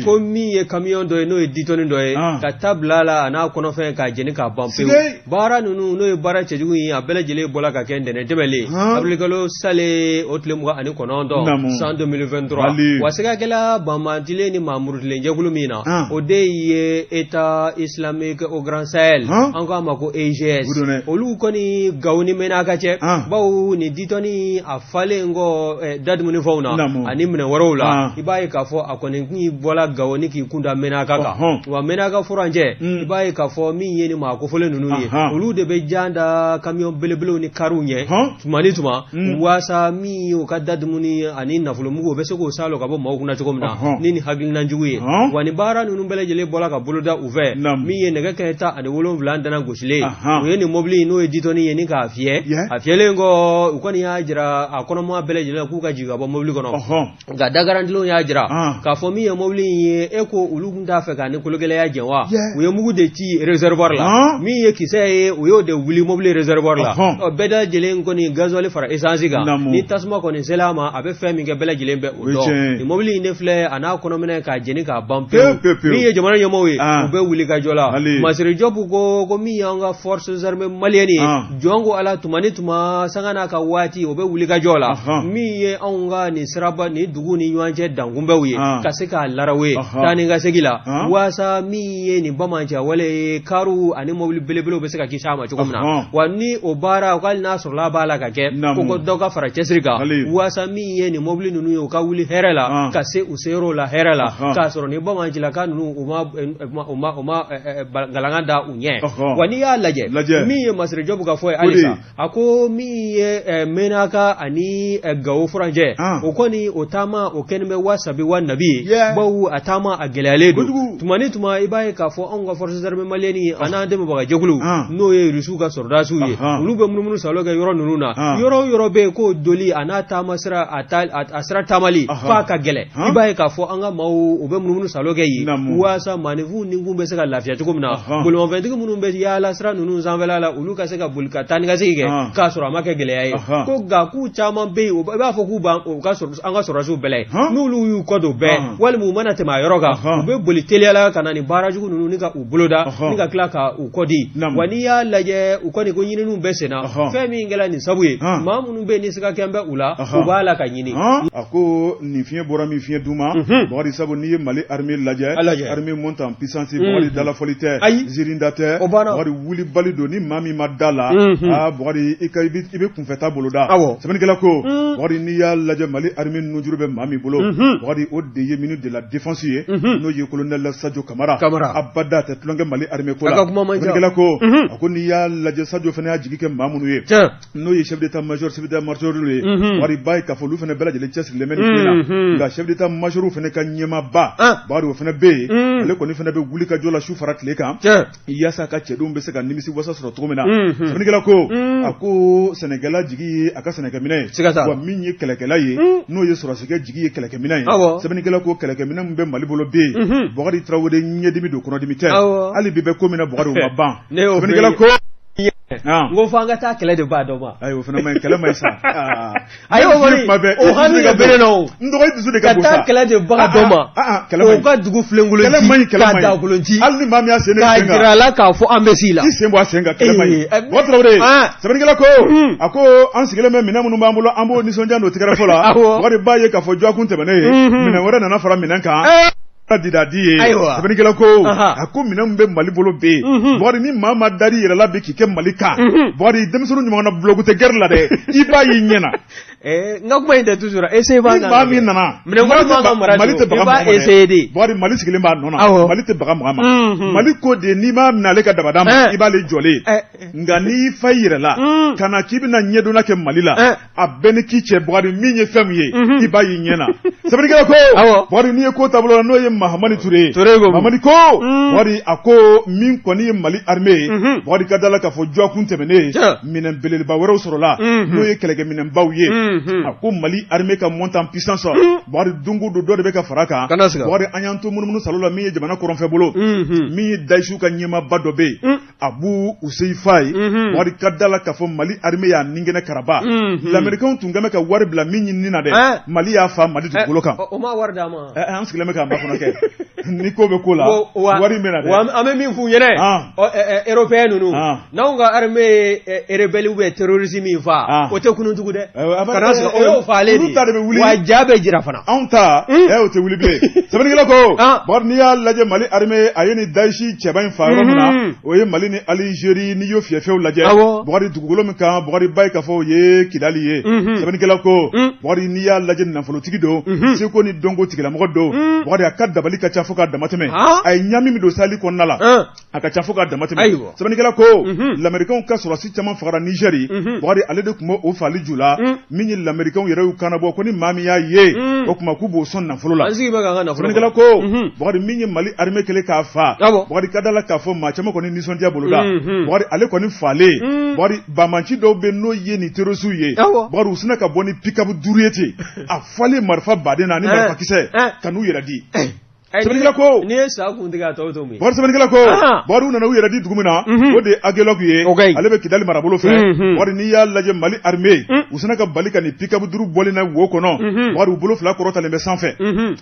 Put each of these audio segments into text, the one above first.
ko min ye kamiyɔn dɔ ye n'o ye ditɔni dɔ ye ka ta bil'a la a n'a kɔnɔfɛn k'a jeni k'a ban pewu baara ninnu n'o ye baara cɛjugu ye a bɛɛ lajɛlen bɔra ka kɛ ntɛnɛn tɛmɛlen abilikalo sale o tile mugan ani kɔnɔntɔn san 2023 wa siga kɛla banbantilen ni maa murutilen jɛkulu min na o de ye état islamique au grand sahel an k'a ma ko EGS olu kɔni gawo ni mɛnaka cɛ bawo nin ditɔni a falen kɔ dadumuni fɛnw na ani minɛn wɛrɛw la i b'a ye k'a fɔ a kɔni n'i bɔla gawo ni k'i kunda mɛnaka kan wa mɛnaka furancɛ mm. i b'a ye k'a fɔ min ye ni maa kofolen ninnu ye olu de bɛ jan da kamiyɔn belebelew ni kariw ɲɛ tuma ni tuma mm. waasa min u ka dadumuni ani nafolomugu o bɛ se k'o sa lɔ ka bɔ maaw kunna cogo min na ni ni hakilinan jugu ye wa ni baara ninnu bɛɛ lajɛlen bɔla ka boloda u fɛ min ye nɛgɛ kanɲɛ tan ani wolonwula dana gosilen u ye nin mɔbili n'o ye ditɔni ye ni k'a fiyɛ a fiyɛlen kɔ u kɔni y'a jira a kɔnɔmaa bɛɛ lajɛlen k'u ka jigin ka bɔ mɔbili kɔnɔ nka da garantilenw y'a jira ah. k'a fɔ min ye mobili in ye e ko olu tun t'a fɛ ka ni kologɛlɛya jɛ wa u ye mugu de ci réservoir la ah. min ye kisɛ ye u y'o de wuli mobili réservoir la ɔ bɛɛ da lajɛlen kɔni gasoil fara essence kan ni tasuma kɔni sela a ma a bɛ fɛn min kɛ bɛɛ lajɛlen bɛ o dɔn nin mobili in de filɛ a n'a kɔnɔminɛn k'a jeni k'a ban pewu min ye jamana ɲɛmɔgɔw ye ah. u bɛ wulikajɔ la masire jɔpu ko ko min y'an ka forces armées maliennes ye jɔn ko ala tuma ni tuma sanga n'a ka waati u bɛ wulikajɔ la min ye anw ka nin siraba nin dugu ni ɲɔgɔn cɛ dankunbɛw ye ka se k'a laraw ye taa ni ka segi la waasa min ye nin banbaanci wale ye kariw ani mobili belebelew bɛ se ka kisi a ma cogo min na wa ni o baara hali n'a sɔrɔla u b'a la ka kɛ ko ko dɔ ka fara cɛsiri kan waasa min ye nin mobili ninnu ye u ka wuli hɛrɛ la ka se u seyɔrɔw la hɛrɛ la k'a sɔrɔ ni banbaancilaka ninnu u ma galangan da ɲɛ wa n'i y'a lajɛ min ye masire jɔpu ka fɔ ye halisa a ko min ye eh, mɛnaka ani eh, gawo furancɛ ah. o kɔni o taama o kɛni bɛ wa sabi wa nabi ye bawu a taama a gɛlɛyalen don tuma ni tuma i b'a ye k'a fɔ anw ka forces armées maliennes ah. a n'an dɛmɛbaga jɛkuluw ah. n'o ye rusiw ka sɔrɔdasiw ye olu bɛ munumunusaalo kɛ yɔrɔ ninnu na yɔrɔ o yɔrɔ bɛ yen k'o donni a n'a taama sira a sira taamali f'a ka gɛlɛn i b'a ye k'a fɔ an ka maaw u bɛ munumunusaalo kɛ yen waasa maaninfinw ni kun bɛ se ka lafiya cogo min na bolimafɛntigi minnu bɛ yaala sira ninnu sanfɛla la olu ka se ka boli ka taanikasigi kɛ k'a sɔrɔ a ma kɛ gɛlɛya ye ko nka k'u caman bɛ yen i b'a fɔ k'u b'anw ka an ka sɔrɔdasiw bɛlɛn n'olu y'u kɔ don bɛɛ walima u mana tɛmɛ a yɔrɔ kan u bɛ boli teliyala ka na ni baara jugu ninnu ni ka u boloda ni ka tila ka u kɔ di wa n'i y'a lajɛ u kɔni ko ɲininiw bɛ senna fɛn min kɛra nin sabu ye maa minnu bɛ yen ni siga kɛlen bɛ u la u b'a la ka ɲini nin fiɲɛ bɔra min fiɲɛ duma mhm. bakari sabu n'i ye mali armée lajɛ armée montée en puissance mhm. bakari dalafɔli tɛ zirinda tɛ bakari wulibali don ni maa min ma da a la mhm. aa ah, bakari i ka i bɛ kunfɛta boloda sɛbɛnnikɛla ko bakari n'i y'a lajɛ mali armée nujuru bɛ maa min bolo bakari o de ye ministre de la défense ye n'o ye colonel sadio kamara abada a tɛ tulonkɛ mali armée ko la sɛbɛnnikɛla ko a ko n'i y'a lajɛ sadio fana y'a jigi kɛ maa minnu ye n'o ye chef d'état major chef d'état major ye unhun Bukari i b'a ye k'a fɔ olu fana bɛɛ lajɛlen cɛsirilen bɛ nin ko in na unhun nka chef d'état major fana ka ɲɛmaaba An. Bukari o fana bɛ yen Un. ale kɔni fana bɛ wulikajɔ la su fara tile kan tiɲɛ yaasa a ka cɛdenw bɛ se ka nimisi wasa sɔrɔ cogo min na Unhun. sɛbɛnnikɛla ko Un. a ko sɛnɛkɛla jigi ye a ka sɛnɛkɛminɛ ye Siga t'a la. wa min ye kɛlɛkɛla ye Un. n'o ye sɔrɔdasikɛ jigi ye kɛlɛkɛminɛ ye Awɔ. sɛbɛnnikɛla ko kɛlɛkɛminɛ min bɛ mali bolo bi Unhun. Bukari tarawele ɲɛdimi don kɔnɔdimi tɛ Awɔ. hali bi bɛ ko min na Bukari o ma ban Ne y'o sɛbɛnnikɛla fɛ. ko n ko fo an ka taa kɛlɛ de b'a dɔn ma ayi o fana ma ɲi kɛlɛ ma ɲi sa a ye o kɔni o hami ka bere la o n dɔgɔ i dusu de ka bon sa ka taa kɛlɛ de baga dɔn ma kɛlɛ ma ɲi o ka dugu filenkolon kɛlɛ ma ɲi kɛlɛ ma ɲi k'a dagolo ji hali ni maa min y'a sen ne sen kan k'a jira a la k'a fɔ an bɛ s'i la i sen bɔ a sen kan kɛlɛ ma ɲi bukari tarawele sɛbɛnnikɛla ko a ko an sigilen bɛ minɛn minnu b'an bolo an b'o nisɔndiya n'o tɛgɛrɛfɔ la bukari i b'a ye k'a fɔ jɔkun tɛmɛnen ye minɛn wɛrɛ nana fara minɛn kan didadi ye sɛbɛnnikɛla ko a ko minɛn min bɛ mali bolo bi bukari ni maa min dar'i yɛrɛ la bi k'i kɛ mali kan bukari denmisɛnnin ɲɔgɔn na bulonku tɛ gɛrɛ la dɛ i b'a y'i ɲɛ na eh, n ka kuma in tɛ toujours ese b'a maa min nana mali tɛ baga mɔgɔ ma bukari mali sigilen b'a nɔ na mali tɛ baga mɔgɔ ma mali ko de n'i m'a minɛ ale ka dabada ma eh. i b'ale jɔlen eh. nka n'i fa i yɛrɛ la ka na k'i bɛna ɲɛdonna kɛ mali la a bɛ ɲini k'i cɛ Bukari min ye fɛn min ye mhm. i b'a y'i ɲɛ na sɛbɛnnikɛla ko Bukari n'i ye ko taabolo la n'o ye Mahamani Ture ye Mahamani ko mhm. Bukari a ko min kɔni ye Mali armée ye mhm. Bukari ka da la k'a fɔ jɔkun tɛmɛnnen minɛn belebeleba wɛrɛw sɔrɔla n'o ye kɛlɛkɛminɛnbaw ye a ko Mali armée ka montée en puissance Bukari don o don dɔ de bɛ ka fara a kan Bukari an y'an to munumunu saalo la min ye jamana kɔrɔnfɛbolo min ye Dayisiw ka ɲɛmaaba dɔ bɛ yen abu huzeifa ye bukari ka da la k'a fɔ mali armée y'a nin kɛnɛ karaba lamerikɛn tun kɛmɛ ka wari bila min ɲini na dɛ mali y'a faa mali dugukolo kan u ma wari d'a ma an sigilen bɛ k'a makɔnɔ kɛ ni ko bɛ ko la wari an bɛ min f'u ye européen ninnu n'anw ka armée ye rebelle bɛ terroriste min faa o tɛ kunun tugun dɛ kana faalen olu ta de bɛ wuli wa ja bɛ jira fana anw ta ɛ o tɛ wuli bilen sɛbɛnnikɛla ko bukari n'i y'a lajɛ mali armée a ye nin dayisi cɛba in faa yɔrɔ min na o ye mali ni alizeri n'i y'o fiyɛfiyɛw lajɛ bukari dugukolo min kan bukari i b'a ye k'a fɔ o ye kidali ye sɛbɛnnikɛla ko bukari n'i y'a lajɛ nafolotigi don seko ni dɔnko tigilamɔgɔ don bukari a ka dabali ka ca fo k'a damatɛmɛ a ye ɲaami min don saheli kɔnɔna la A ka ca fo ka dama tɛmɛ sɛbɛnnikɛla ko lamerikɛnw ka sɔrɔdasi caman faara nizɛri bakari ale de tun b' o faali ju la min ye lamerikɛnw yɛrɛ y'a kanbɔ ko ni maa min y'a ye o tuma k'u b'o sɔn nafolo la sɛbɛnnikɛla ko bakari min ye mali armée kɛlen k'a faa bakari ka da la k'a fɔ maa caman kɔni nisɔndiya bolo la bakari ale kɔni faalen bakari bamanci dɔw bɛ n'o ye ni terorisiw ye bakari u sina ka bɔ ni pick-up duuru ye ten a falen marifa baden na ni marifakisɛ ka n'u yɛrɛ di sɛbɛnnikɛla ko n'i ye sa kun tigɛ a tɔ bɛ to min bakari sɛbɛnnikɛla ko bakari u nana u yɛrɛ di dugu min na o de ye agɛlɔku ye ale bɛ kidali marabolo fɛ bakari n'i y'a lajɛ mali armée u sina ka bali ka nin pick-up duuru bɔlen na wo kɔnɔ bakari u bolo fila kɔrɔtalen bɛ sanfɛ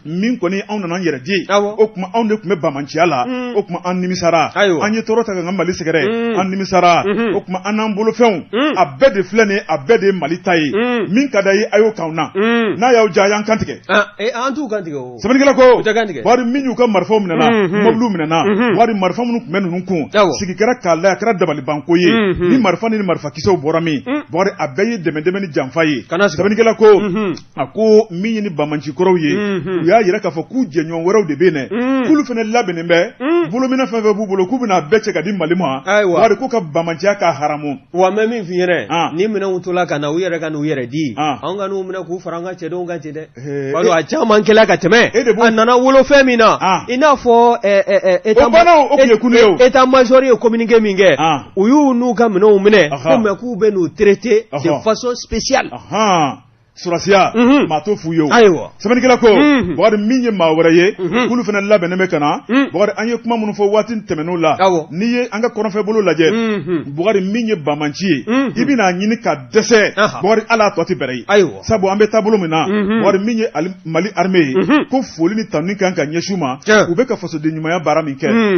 min kɔni anw nana an yɛrɛ di o tuma anw de tun bɛ bamanciya la o tuma an nimisara an ye tɔɔrɔ ta k'an ka mali sɛgɛrɛ an nimisara o tuma an n'an bolofɛnw a bɛɛ de filɛ nin ye a bɛɛ de ye mali ta ye min ka d'a ye a y'o k'anw na n'a y'aw diya a y'an kantigɛ an t'u kantigɛ o Sɛbɛnnikɛla ko u tɛ kan tigɛ bakari min y'u ka marifaw minɛna unhun mobiliw minɛna unhun bakari marifa minnu tun bɛ ninnu kun awɔ sigi kɛra k'a lajɛ a kɛra dabalibanko ye unhun ni marifa ni ni marifakisɛw bɔra min un bakari a bɛɛ ye dɛmɛ-dɛmɛ ni janfa ye kana sigi sɛbɛnnikɛla ko unhun a ko min ye ni banmanci kɔrɔw ye unhun u y'a jira k'a fɔ k'u jɛɲɔgɔn wɛrɛw de bɛ yen dɛ un k'olu fana labɛnnen bɛ un bolomina fɛn fɛn b'u bolo k'u bɛna a bɛɛ cɛ ka di mali ma ayiwa bakari k'u ka banmanciya ka haramu wa n bɛ min f'i ɲɛna an ni minɛnw tola ka na u yɛrɛ ka n'u yɛrɛ di an anw ka n'u minɛ k'u fara an ka cɛdenw kan ten dɛ Ee, Balo a caman kɛla ka tɛmɛ E de b'o- a nana wolo fɛn min na Ah. i n'a fɔ ɛ, ɛ, ɛ, état- O bana o- o tun ye kule o. état major ye communiqué min kɛ Ah. u y'u n'u ka minɛnw minɛ Aha. ko mais k'u bɛn'u traité de Aha. façon spéciale ahan sɔrɔdasiya Mhm. maa t'o f'u ye o ayiwa sɛbɛnnikɛla ko Mhm. bakari min ye maa wɛrɛ ye Mhm. k'olu fana labɛnnen bɛ ka na Mhm. bakari an ye kuma minnu fɔ waati tɛmɛnenw la Awɔ. n'i ye an ka kɔrɔnfɛ bolo lajɛ Mhm. bakari min ye bamanci ye Mhm. i bɛna a ɲini ka dɛsɛ Aha. bakari hali a tɔ tɛ bɛrɛ ye ayiwa sabu an bɛ taabolo min na mhm. bakari min ye mali armée ye mhm. ko foli ni tanuni kan ka ɲɛsin u ma u bɛ ka fasoden ɲumanya baara min kɛ mhm.